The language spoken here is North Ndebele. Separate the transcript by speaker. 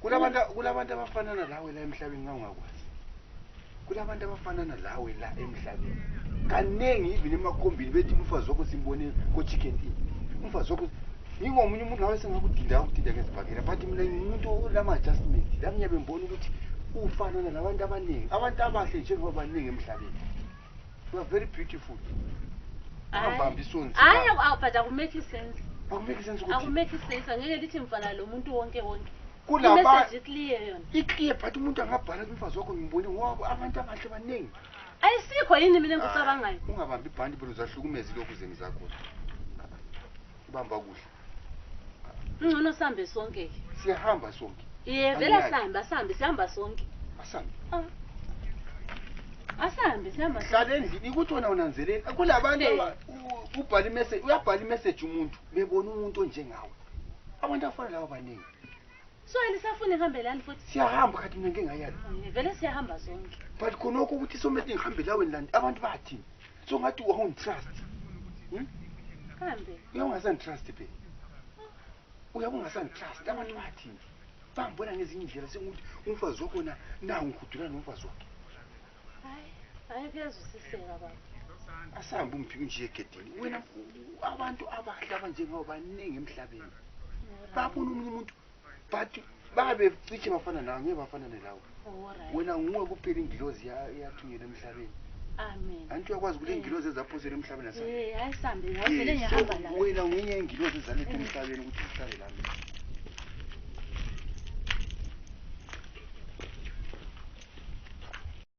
Speaker 1: kulabantu kulabantu abafanana lawe la emhlabeni ngangakwazi kulabantu abafanana lawe la emhlabeni kaningi even emakhombini bethi umfazi wakho simbone ko-chicken in umfazi wakho ngingomunye umuntu nawe sengakudinda ukudinda ngezibhakela but mina ngimuntu olama-adjustment lami ngiyabe ngibona ukuthi ufanana nabantu abaningi abantu abahle njengoba baningi emhlabeni You are very beautiful. Ungabambi isoni. Hayi awubhada kumake sense. Akumake
Speaker 2: sense ukuthi.
Speaker 1: Akumake sense angeke
Speaker 2: lithi mfana lo muntu wonke wonke. Kulaba message
Speaker 1: clear yona.
Speaker 2: Iclear but umuntu
Speaker 1: angabhala kumfazi wakho ngimbone wabo abantu abahle baningi. Ayisikho yini
Speaker 2: mina ngikucabangayo. Ungabambi ibhandi bro
Speaker 1: zahlukumeza lokhu zeni zakho. Ubamba kuhle.
Speaker 2: ngcono sihambe sonke ke siyahamba sonke
Speaker 1: ye vele
Speaker 2: Angiyazi. sihambe asihambe sihambe sonke asambe asihambe sihambe sonke. hlala endlini ukuthi wena
Speaker 1: unanzeleli kulabantu Eh. aba- u- ubhala imessage uyabhala imessage umuntu bebona umuntu onjengawe abantu afana lawo baningi so
Speaker 2: elisafuna ihambe lani futhi siyahamba khathi mina ngengayalo
Speaker 1: Ye, vele siyahamba
Speaker 2: sonke but khonokho ukuthi
Speaker 1: somethi ngihambe laweni lani abantu bathini so ngathi wawungitrust hmm?
Speaker 2: kambe uyawungasangitrust
Speaker 1: phe uyabe ungasangitrust abantu bathi bangibona ngezinye indlela sengukuthi umfazi wakho na nangihudula nomfazi wakhe hayi
Speaker 2: kuyazwisiseka baba asahambe
Speaker 1: umphike nje egedini wena abantu abahle abanjengawo baningi emhlabeni babona omunye umuntu but babe cishe bafana nawe ngeke bafana nelawo wena nguwe kuphela ingilozi yathunyelwa emhlabeni anti
Speaker 2: uyakwazi ukuthi ingilozi
Speaker 1: ezaphosela emhlabeni
Speaker 2: wena
Speaker 1: ngenye ingilozi
Speaker 2: ezaletha
Speaker 1: emhlabeni ukuthi
Speaker 2: uhlale
Speaker 1: lami